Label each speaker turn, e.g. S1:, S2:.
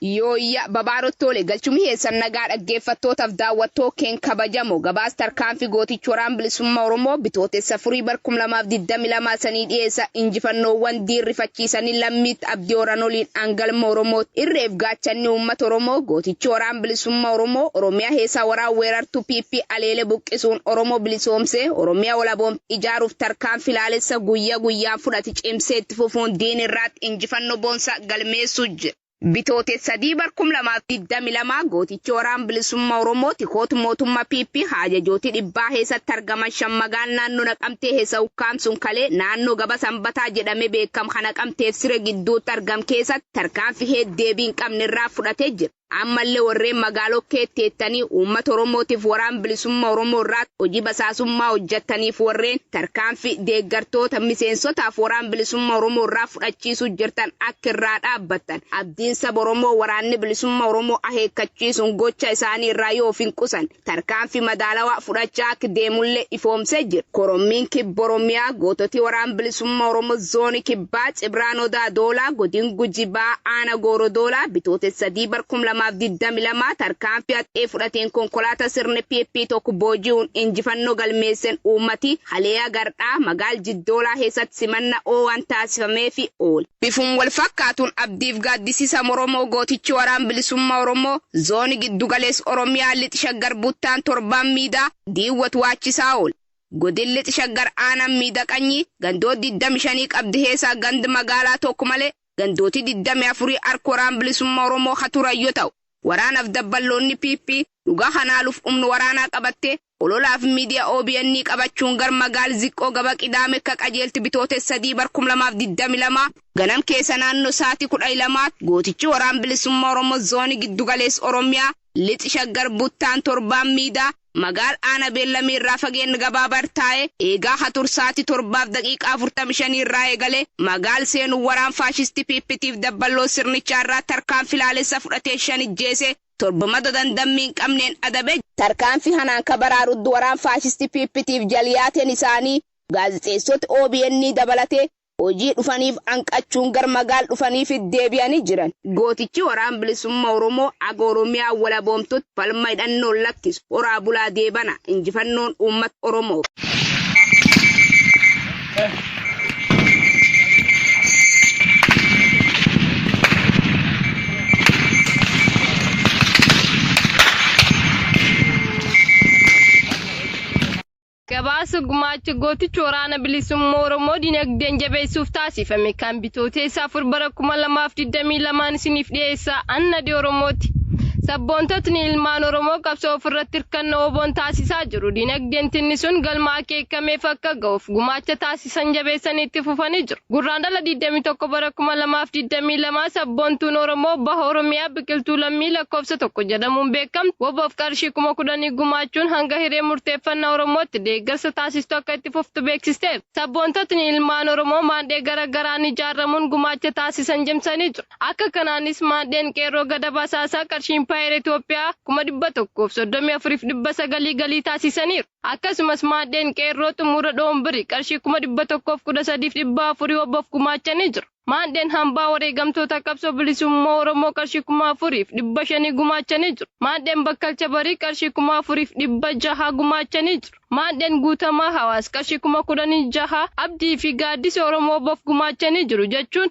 S1: Yooyyaa babaaroo tole galchumni keessan nagaa dhaggeeffattootaf daawwattoo keen kabajamo gabaas tarkaanfi gootichi waraan bilisumma oromoo bitootessa 4 bar 2022 isanii dhiyeessa injifannoowwan diin rifachiisani lammiitt abdi horan oliin an galma oromoot irreef gaachanni uummata oromoo gootichi waraan bilisumma oromoo oromiya heesaa waraan weerartu pp aleele buqqisuun oromoo bilisoomsee oromiya walaboomte ijaaruuf tarkaanfi laalessa guyya guyyaan fudhati cimsee itti fufuun diin irraatti injifanno boonsa galmeessuu jira. Bitootes 3 bar 2022 Gootichi Waraan Bilisumma Oromoo tikoot mootumma PP haajajooti dhibbaa heesatti argaman 5 magaal naanno Naqamtee heesa ukkaamsun kalee naanno Gaba Sanbataa jedhame beekam ka Naqamteef Sire gidduutti argam keesatti tarkaanfi heed deebii hin qabne irraa fudhate jira. Ammalle warreen magaalo keeti teettani ummata Oromootiif Waraan Bilisumma Oromoo irraatti hojii basaasummaa hojjattaniif warreen tarkaanfi deeggartoota, miseensotaaf Waraan Bilisumma Oromoo irraa fudhachiisu jirtan akka irraa dhaabbattan abdiin saba Oromoo Waraanni Bilisumma Oromoo aheekkachiisuun gocha isaani irraa yoo of hin qusan. tarkaanfi madaalawaa fudhachaa akk deemullee ifoomsee jira. Korommiin Kibba Oromiyaa goototi Waraan Bilisumma Oromo Zooni Kibbaa Cibraan Odaa Doolaa Godin Guji Baha Aana Gooro Doolaa Bitootessa 3 bar 2022 tarkaanfi haxxee fudhateen konkolaata sirni pp tokko booji'uun injifannoo galmeessen uummati haleea gardhaa magaal Jiddoolaa keessatti simanna oowaan taasifameefi oole. Bifum wal fakkaatun Abdiif Gaaddisisa Moromoo gootichi Waraan Bilisumma Oromoo Zooni Giddugaleess Oromiyaa Lix Shaggar Buttaan Torbaan Miidaa Diiwwa Tuwaachisaa Oole. Godin Lix Shaggar Aanan Miida Qanyii gandoot 25 qabdi keesaa gand magaalaa tokk malee gandooti 24 hark Waraan Bilisumma Oromoo ka turan yo ta'u, waraanaf dabballoonni PP dhuga kanaa luf umn waraanaa qabattee Ololaaf Miidiya obn qabachuun gar Magaal Ziqqoo Gaba Qidaame kka Qajeelti Bitootes 3 bar 2022 ganam keessa naanno saati 12 tti Gootichi Waraan Bilisumma Oromo Zooni Giddu Galeess Oromia Lix Shaggar Buttaan Torbaan Miida Magaal Aana Beellami irraa fageenn gabaaba irr taae eegaa ka tur saati 7:45 irraa eegale Magaal seenun Waraan Faashisti PP tiif Dabballoo Sirnichaa irraa tarkaanfi laalessa fudhateen 5 ijjeese Torbamata tan dammi hin qabneen adabe. Tarkaanfii kanaan ka baraaruddu waraan faashistii PP tiif jalyaateen isaanii gaazexeessoti obn dabalatee hojii dhufaniif hanqachuun gar magaal dhufaniifit deebi'anii jiran. Gootichi Waraan Bilisumma Oromoo haga Oromiyaan walaboomtutti falma hidhannoon lakkisu. Horaa bulaa deebana. Injifannoon uummata Oromoof.
S2: Gabaasa gumaacha gootichi waraana bilisummaa Oromoo dinagdeen jabeessuuf taasifame kan bitooteessa afur bara 2022 isiniif dhiyeessa annadi Oromooti. Sabboontotni ilmaan Oromoo qabsoo ofirratti hirkannoo oboon taasisaa jiru dinagdeen tinnisuun galmaa akeekameef akka ga'uuf gumaacha taasisan jabeessanii itti fufanii jiru. Gurraandhala 21 bara 2022 sabboontuun Oromoo Baha Oromiyaa Biqiltuu Lammii lakkoofsa 1 jedhamuun beekamtu WBOf qarshii kuma kudhanii gumaachuun hanga hiree murteeffannaa Oromootti deeggarsa taasistu akka itti fuftu beeksisteerti. Sabboontotni ilmaan Oromoo maandhee gara garaan ijaaramuun gumaacha taasisan cimsanii jiru. Akka kanaanis maandheen Qeerroo Gadab Asaasaa qarshii Impaayera Itoophiyaa kuma 134fi 900 galii taasisaniiru. Akkasumas maadheen Qeerroo xumura Dhoombiri qarshii 113,400 WBOf gumaachanii jiru. Maandheen Hambaa Wareegamtoota Qabsoo Bilisummaa Oromoo qarshii 4,500 gumaachanii jiru. Maandheen Bakkalcha Barii qarshii 4,600 gumaachanii jiru. Maandheen Guutamaa Hawaas qarshii 16,000 Abdii fi Gaaddisa Oromoo WBOf gumaachanii jiru jechuun